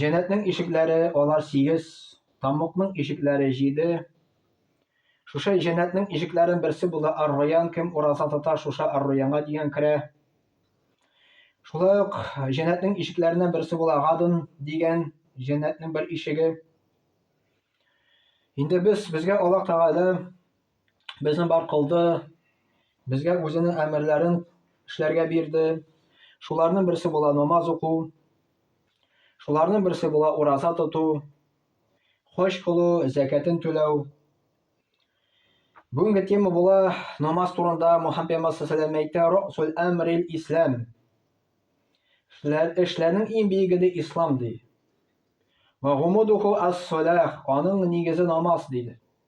Җәннәтнең ишекләре алар сигез, таммукның ишекләре җиде. Шушы җәннәтнең ишекләрен берсе була Ар-Раян, кем ураза тота, шушы Ар-Раянга дигән керә. Шулай ук җәннәтнең ишекләреннән берсе була Гадн дигән җәннәтнең бер ишеге. Инде без безгә Аллаһ Тәгалә безне бар кылды, безгә үзенең әмерләрен эшләргә бирде. Шуларның берсе була намаз уку, шуларның берсе була ураза тоту, хош кылу, зәкәтен түләү. Бүгенге тема була намаз турында Мухаммед пәйгамбәр саллаллаху әйтә, "Росул әмрил ислам". Эшләрнең иң биеге ди ислам ди. Ва гумудуху ас-салах, аның нигезе намаз диде.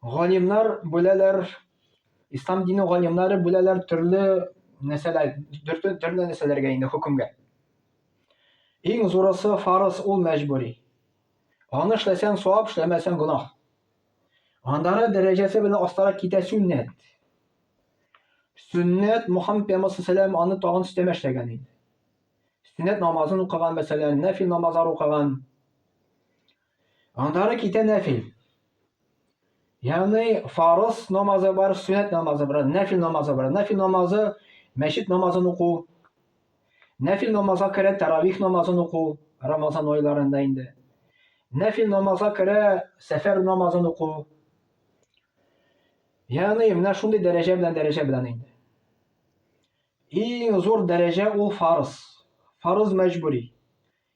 Галимнар бүләләр, ислам дине галимнары бүләләр төрле нәрсәләр, төрле, төрле нәрсәләргә инде хөкемгә. Иң зурысы фарыз, ул мәҗбүри. Аны эшләсәң савап, эшләмәсәң гөнаһ. Андары дәрәҗәсе белән астарак китә сүннәт. Сүннәт Мухаммед пәйгамбәр саллаллаху аны тагын өстәмә эшләгән инде. Сүннәт намазын укыган мәсәлән, нәфил намазлар укыган. Аннары китә нәфил. Ягъни фарыз намазы бар, сүннәт намазы бар, нәфил намазы бар. Нәфил намазы мәчет намазын уку. Нәфил намазга керә таравих намазын уку, Рамазан айларында инде. Нәфил намазга керә сәфәр намазын уку. Ягъни менә шундый дәрәҗә белән дәрәҗә белән инде. Иң зур дәрәҗә ул фарыз. Фарыз мәҗбүри.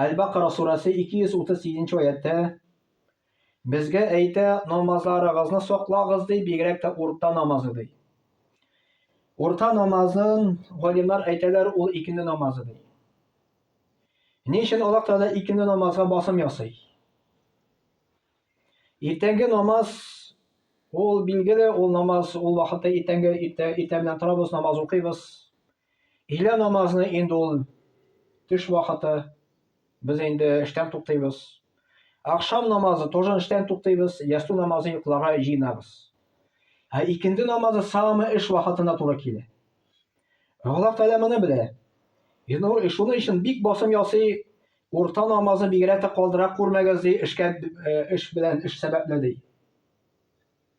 Әл-Бакара сурәсе 237 аятта безгә әйтә, намазларыгызны саклагыз ди, бигрәк тә урта намазы ди. Урта намазын галимнар әйтәләр, ул икенде намазы ди. Ни өчен Аллаһ Тәгалә икенде намазга басым ясый? Иртәнге намаз ул билгеле, ул намаз ул вакытта иртәнге иртә, иртә белән торабыз, намаз укыйбыз. Илә намазны инде ул төш вакыты, без инде эштән туктыйбыз. Акшам намазы тоже эштән туктыйбыз, ясту намазы йокларга җыенабыз. Ә икенде намазы самы эш вакытына туры килә. Аллаһ Тәгалә моны белә. Инде шуның өчен бик басым ясый, урта намазы бигрәк тә калдыра күрмәгез ди, эшкә э, эш белән, эш сәбәпле ди.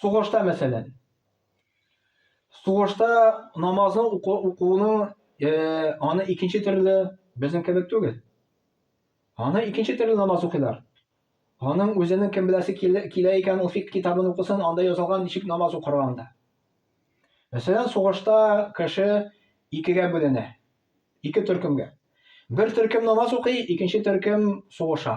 Сугышта, мәсәлән. Сугышта намазны укуны, э, аны икенче төрле безнең кебек түгел. Аны икенче төрле намаз укыйлар. Аның үзенең кем беләсе килә икән, ул фик китабын укысын, анда язылган ничек намаз укырга анда. Мәсәлән, сугышта кеше икегә бүленә. Ике төркемгә. Бер төркем намаз укый, икенче төркем сугыша.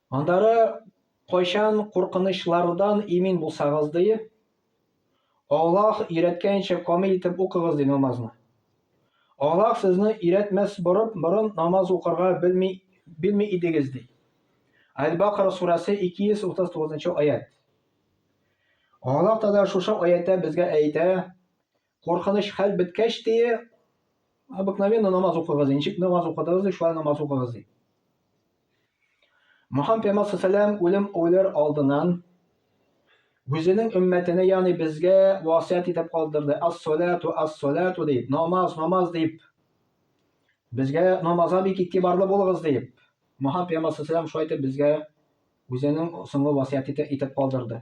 Аннары, кайчан куркынычлардан имин булсагыз, ди, Аллаһ өйрәткәнчә камил итеп укыгыз, ди, намазны. Аллаһ сезне өйрәтмәс борып, борын намаз укырга белми, белми идегез, ди. Әл-Бакара сурәсе 239 нчы аять. Аллаһ Тәгалә шушы аятта безгә әйтә, Куркыныч хәл беткәч, ди, обыкновенно намаз укыгыз, ничек намаз укыдыгыз, ди, шулай намаз укыгыз, ди. Мөхәммәд пәйгамбәр сәлам үлем үлер алдынан үзенең өммәтенә, ягъни безгә васыять итеп калдырды. Ас-салату, ас-салату дип, намаз, намаз дип. Безгә намазга бик игътибарлы булыгыз дип. Мөхәммәд пәйгамбәр сәлам шулай итеп безгә үзенең соңгы васыяте итеп калдырды.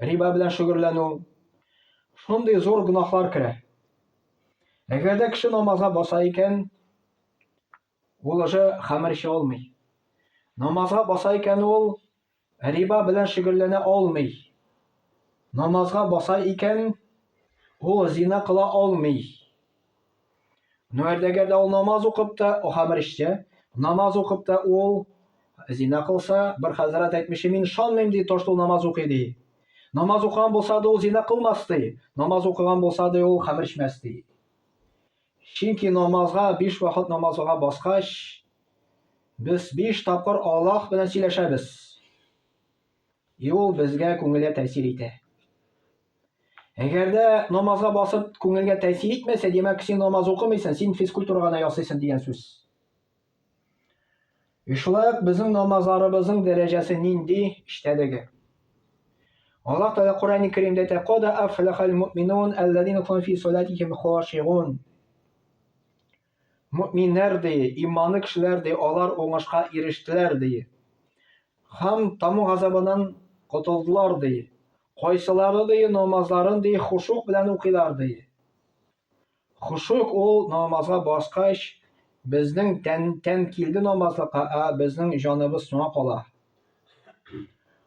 риба белән шөгыльләнү, шундый зур гөнаһлар керә. Әгәр дә кеше намазга баса икән, ул уже хәмер эчә алмый. Намазга баса икән ул риба белән шөгыльләнә алмый. Намазга баса икән ул зина кыла алмый. Ну, әрдәгәр дә ул намаз укып та, о хамыр эчсә, намаз укып та ул зина кылса, бер хәзрәт әйтмеши, мин ышанмыйм ди, то, что намаз укый ди. Намаз укыган булса да ул зина кылмас ди. Намаз укыган булса да ул хамыр эчмәс ди. Чөнки намазга, биш вакыт намазга баскач, без биш тапкыр Аллаһ белән сөйләшәбез. И ул безгә күңелгә тәэсир итә. Әгәр дә намазга басып күңелгә тәэсир итмәсә, димәк, син намаз укымыйсың, син физкультура гына ясыйсың дигән сүз. И шулай ук безнең намазларыбызның дәрәҗәсе нинди эчтәлеге. Аллаһ Тәгалә Коръәни Кәримдә әйтә: "Када афлахал муъминун аллазина кум фи салатихим хашигун". Мөэминнәр, ди, иманлы кешеләр, ди, алар уңышка ирештеләр, ди. Һәм Таму газабыннан котылдылар, ди. Кайсылары, ди, намазларын, ди, хушук белән укыйлар, ди. Хушук ул намазга баскач, безнең тән, тән килде намазлыкка, ә безнең җаныбыз соңа кала.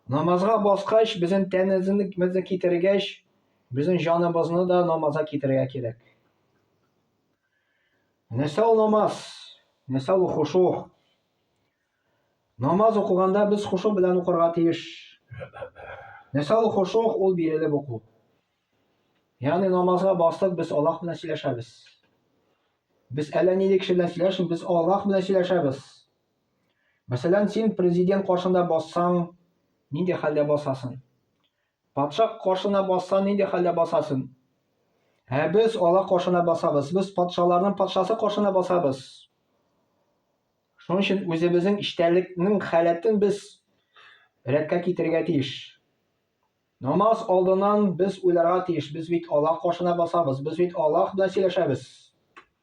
Намазга баскач, безнең тәнебезне китергәч, безнең җаныбызны да намазга китерергә кирәк. Нәсәл намаз, нәсәл хушо. Намаз укыганда без хушо белән укырга тиеш. Нәсәл хушо ул бирелеп уку. Ягъни намазга бастык без Аллаһ белән сөйләшәбез. Без әллә нинди кеше белән сөйләшмибез, без Аллаһ белән сөйләшәбез. Мәсәлән, син президент каршында бассаң, нинди хәлдә басасың? Патша кошына басса, нинди хәлдә басасын? Ә без Аллаһ кошына басабыз, без патшаларның патшасы кошына басабыз. Шуның өчен үзебезнең эчтәлекнең халәтен без рәткә китерергә тиеш. Намаз алдынан без уйларга тиеш, без бит Аллаһ кошына басабыз, без бит Аллаһ белән сөйләшәбез.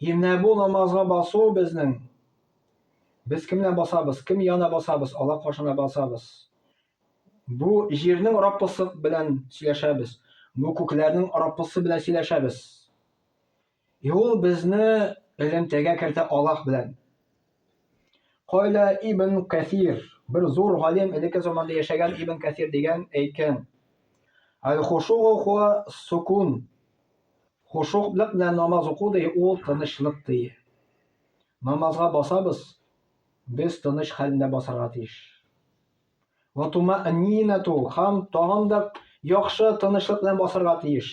И менә бу намазга басу безнең. Без кемнән басабыз, кем яна басабыз, Алла каршына басабыз. Бу җирнең Раббысы белән сөйләшәбез. Бу күкләрнең Раббысы белән сөйләшәбез. И ул безне элемтәгә кертә Аллаһ белән. Кайла Ибн Кәсир, бер зур галим элекке заманда яшәгән Ибн Кәсир дигән әйткән. Аль-хушугу хуа сукун. Хошугълык белән намаз уку ди, ул тынычлык ди. Намазга басабыз, без тыныч хәлендә басарга тиеш. Ва тумаънинату һәм тагын да яхшы тынычлык белән басарга тиеш.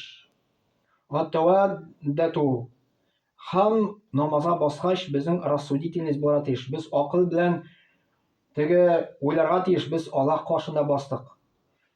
Ва тәвәддәту һәм намазга баскач безнең рассудительность буларга тиеш. Без акыл белән теге уйларга тиеш, без Аллаһ каршында бастык.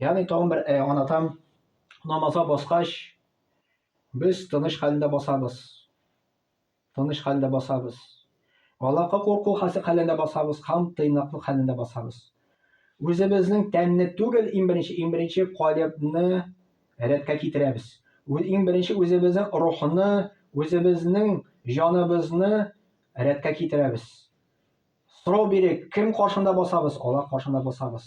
Ягъни тагын бер э, анатам намаза баскач, без тыныч хәлендә басабыз. Тыныч хәлендә басабыз. Аллаһка курку хәлендә басабыз һәм тыйнаклык хәлендә басабыз. Үзебезнең тәнне түгел, иң беренче, иң беренче калыбны рәткә китерәбез. Үз иң беренче үзебезнең рухны, үзебезнең җаныбызны рәткә китерәбез. Сорау бирик, кем каршында басабыз? Аллаһ каршында басабыз.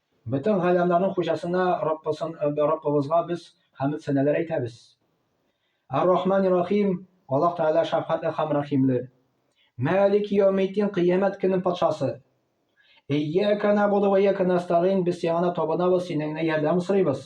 Бөтен галәмнәрнең хуҗасына Раббысын, Раббыбызга без хәмд сәнәләр әйтәбез. Ар-Рахмани Рахим, Аллаһ Тәгалә шәфкатьле һәм рәхимле. Мәлики яумиддин, кыямәт көнен патшасы. Ияка набуду ва ияка настагин, без сиңа гына табынабыз, синнән генә ярдәм сорыйбыз.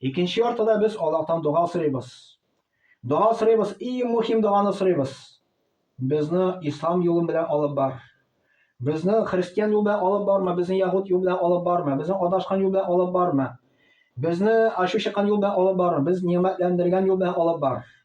Икенче яртыда без Аллаһтан дога сорыйбыз. Дога сорыйбыз, иң мөһим доганы сорыйбыз. Безне ислам юлы белән алып бар. Безне христиан юлда алып барма, безне ягут юлда алып барма, безне адашкан юлда алып барма. Безне ачу чыккан юлда алып барма, без нимәтләндергән юлда алып бар.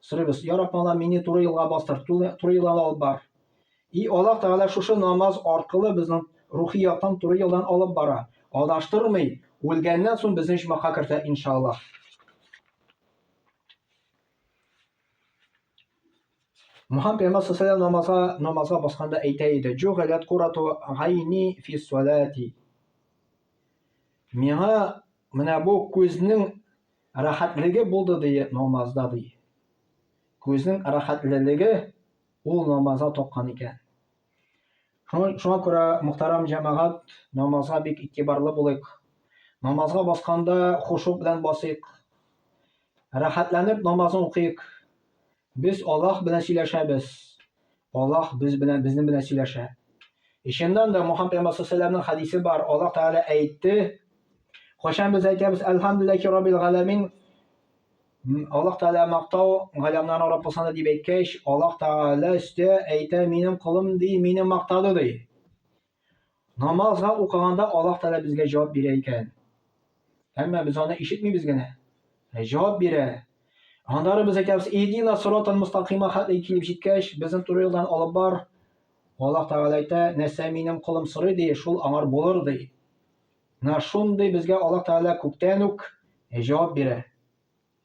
Сорыйбыз, Я Рабб, мала мени туры юлга бастыр, туры юлдан алып бар. И Аллаһ Тәгалә шушы намаз аркылы безнең рухи яктан туры юлдан алып бара. Адаштырмый, үлгәннән соң безне җмака кертә, иншаллаһ. Мухаммад пәйгамбәр саллаллаху намазга намазга басканда әйтә иде: "Җугалат курату гайни фи салати". Миңа Менә бу күзнең рәхәтлеге булды, ди, намазда, ди. Күзнең рәхәтлелеге ул намазда тапкан икән. Шуңа, шуңа күрә, мөхтәрәм җәмәгать, намазга бик игътибарлы булыйк. Намазга басканда хушук белән басыйк. Рәхәтләнеп намазны укыйк. Без Аллаһ белән сөйләшәбез. Аллаһ без белән, безнең белән сөйләшә. Ишеннән дә Мухаммад пәйгамбәр саллаллаһу хадисе бар. Аллаһ Тәгалә әйтте. Кайчан без әйтәбез, Әлхәмдүлилләһи раббил галәмин. Аллаһ Тәгалә мактау галәмнәрнең Раббысына дип әйткәч, Аллаһ Тәгалә өстә әйтә, минем колым ди, мине мактады ди. Намазга укыганда Аллаһ Тәгалә безгә җавап бирә икән. Әмма без аны ишетмибез генә. Ә җавап бирә. Аннары без әйтәбез, "Идина сиротал мустакима" хәтле килеп җиткәч, безне туры юлдан алып бар. Аллаһ Тәгалә әйтә, "Нәрсә минем колым сорый ди, шул аңар булыр" ди. Менә шундый безгә Аллаһ Тәгалә күктән үк җавап бирә.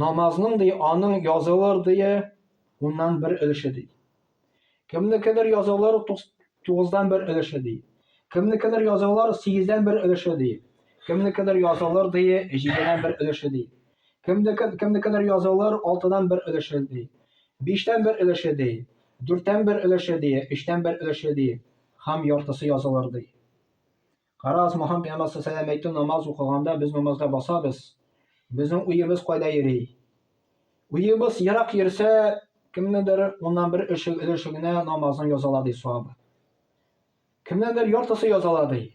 Намазның ди аның язылыр ди уннан бер өлеше ди. Кемнекедер язылыр тугыздан бер өлеше ди. Кемнекедер язылыр сигездән бер өлеше ди. Кемнекедер язылыр ди җидедән бер өлеше ди. Кемнекедер язылыр алтыдан бер өлеше ди. Биштән бер өлеше ди. Дүрттән бер өлеше ди. Өчтән бер өлеше ди. Хам яртысы язылыр ди. Карагыз, Мухаммед пәйгамбәр саллаллаху әйтте, намаз укыганда без намазда басабыз. Безнең уебыз кайда йөри? Уебыз ерак йөрсә, кемнедер уннан бер эше өлеше генә намазын язала ди сабы. Кемнедер яртысы язала ди.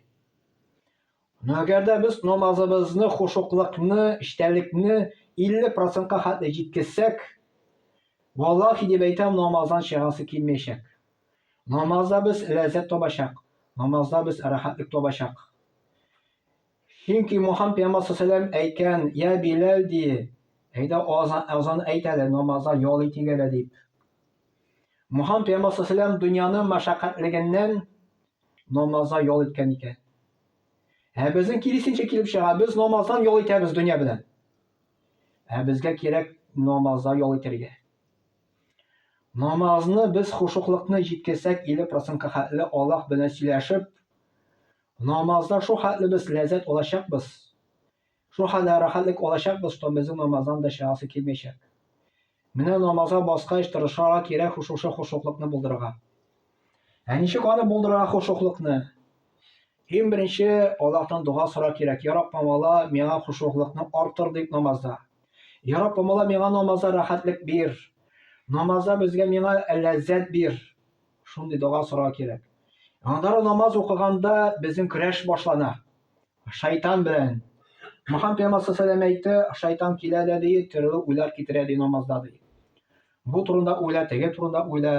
Но әгәр дә без намазыбызны, хушуклыкны, эчтәлекне 50%-ка хәтле җиткезсәк, валлахи дип әйтәм, намаздан чыгасы килмәячәк. Намазда без ләззәт табачак, намазда без рәхәтлек табачак. Чөнки Мухаммад пәйгамбәр саллаллаху алейһи әйткән, "Я Биләл ди, әйдә азан, азан әйт әле, намазда ял итик әле" дип. Мухаммад пәйгамбәр саллаллаху алейһи дөньяның мәшәкатьлегеннән намазда ял иткән икән. Ә безнең киресенчә килеп чыга, без намаздан ял итәбез дөнья белән. Ә безгә кирәк намазда ял итәргә. Намазны без хушуклыкны җиткерсәк 50 процентка хәтле Аллаһ белән сөйләшеп, намазда шул хәтле без ләззәт алачакбыз, шул хәтле рәхәтлек алачакбыз, что безнең намаздан да чыгасы килмәячәк. Менә намазга баскач тырышарга кирәк хушушы хушуклыкны булдырырга. Ә ничек аны булдырырга хушуклыкны? Иң беренче Аллаһтан дога сора кирәк. Я Рабб, мала миңа хушуглыкны артыр дип намазда. Я Рабб, мала миңа намазда рәхәтлек бир. Намазда безгә миңа ләззәт бир. Шундый дога сора кирәк. Анда намаз укыганда безнең көрәш башлана. Шайтан белән. Мөхәммәд пәйгамбәр саллаллаху әйтте, шайтан килә дә ди, төрле уйлар китерә ди намазда ди. Бу турында уйла, теге турында уйла.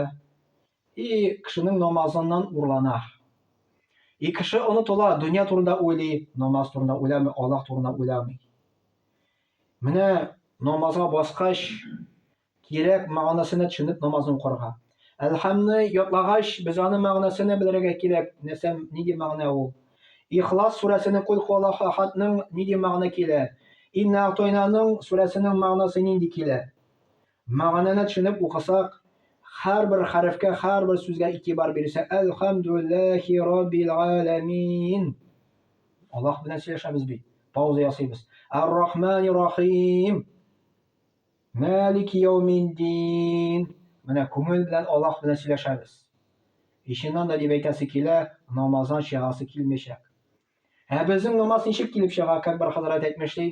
И кешенең намазыннан урлана. И кеше онытыла, дөнья турында уйлый, намаз турында уйламый, Аллаһ турында уйламый. Менә намазга баскач, кирәк мәгънәсенә төшенеп намазны укырга. Әлхәмне ятлагач, без аны мәгънәсенә белергә кирәк, нәрсә, нинди мәгънә ул. Ихлас сүрәсенең Кул хуаллаху ахадның нинди мәгънә килә? Инна атойнаның сүрәсенең мәгънәсе нинди килә? Мәгънәне төшенеп укысак, хәрбер хәрефкә, хәрбер сүзгә игътибар бирсә, Әлхәмдүлләхи раббил галәмин. Аллаһ белән сөйләшәбез бит. Пауза ясыйбыз. Ар-Рахмани рахим. Малики яумиддин. Менә күңел белән Аллаһ белән сөйләшәбез. Иченнан да дип әйтәсе килә, намаздан чыгасы килмичәк. Ә безнең намаз ничек килеп чыга, как бер хәзрәт әйтмешли,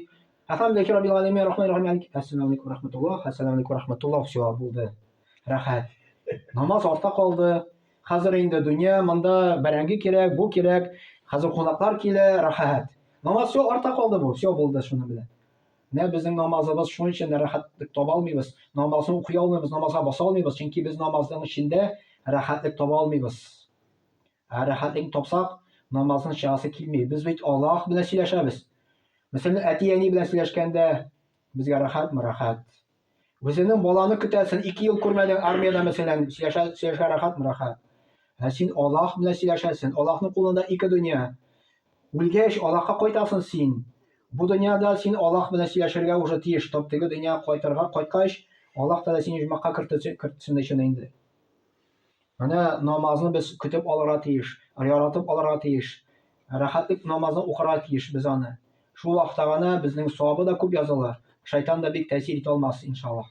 Әхәмдәки Раббил Галәмин Рахман Рахим Алик. Әссәламу алейкум рахматуллах, әссәламу алейкум рахматуллах, все, булды. Рәхәт. Намаз арта калды. Хәзер инде дөнья, монда бәрәңге кирәк, бу кирәк. Хәзер кунаклар килә, рәхәт. Намаз все арта калды бу, все булды шуның белән. Менә безнең намазыбыз шуның өчен дә рәхәтлек таба алмыйбыз. Намазны укый алмыйбыз, намазга баса алмыйбыз, чөнки без намазның эчендә рәхәтлек таба алмыйбыз. Ә рәхәтлек тапсак, намаздан чыгасы килми. Без бит Аллаһ белән сөйләшәбез. Мәсәлән, әти-әни белән сөйләшкәндә безгә рәхәтме рәхәт. Үзенең баланы көтәсен, ике ел күрмәдең армиядә мәсәлән, сөйләшә, сөйләшә рәхәтме рәхәт. Ә син Аллаһ белән сөйләшәсен. Аллаһның кулында ике дөнья. Үлгәч, Аллаһка кайтасың син. Бу дөньяда син Аллаһ белән сөйләшергә уже тиеш. Тап теге дөнья кайтырга кайткач, Аллаһ та сине җмакка кертсен өчен инде. Менә намазны без көтеп алырга тиеш, яратып алырга тиеш. Рәхәтлек намазны укырга тиеш без аны. Шул вакытта гына безнең савабы да күп языла, шайтан да бик тәэсир итә алмас, иншаллаһ.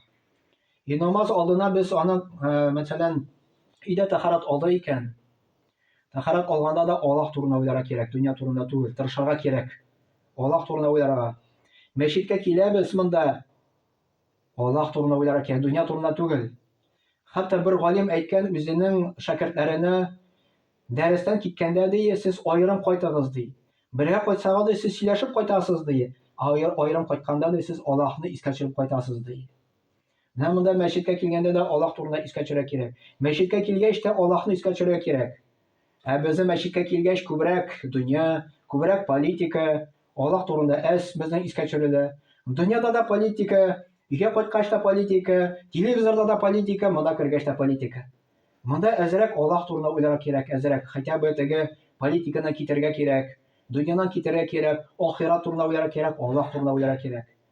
И намаз алдына без аны, э, мәсәлән, өйдә тәхарат алды икән, тәхарат алганда да Аллаһ турында уйларга кирәк, дөнья турында түгел, тырышырга кирәк. Аллаһ турында уйларга. Мәчеткә киләбез монда, Аллаһ турында уйларга кирәк, дөнья турында түгел. Хәтта бер галим әйткән үзенең шәкертләренә дәрестән киткәндә ди, сез аерым кайтыгыз ди. Бергә кайтсагыз ди, сез сөйләшеп кайтасыз ди, ә аерым кайтканда ди, сез Аллаһны искә төшереп кайтасыз ди. Менә монда мәчеткә килгәндә дә Аллаһ турында искә төшерә кирәк. Мәчеткә килгәч тә Аллаһны искә төшерә кирәк. Ә безнең мәчеткә килгәч, күбрәк дөнья, күбрәк политика, Аллаһ турында әз безнең искә төшерелә. Дөньяда да политика, өйгә кайткач та политика, телевизорда да политика, монда кергәч тә политика. Монда әзрәк Аллаһ турында уйларга кирәк, әзрәк, хотя бы теге политиканы китергә кирәк, дөньянан китергә кирәк, ахират турында уйларга кирәк, Аллаһ турында уйларга кирәк.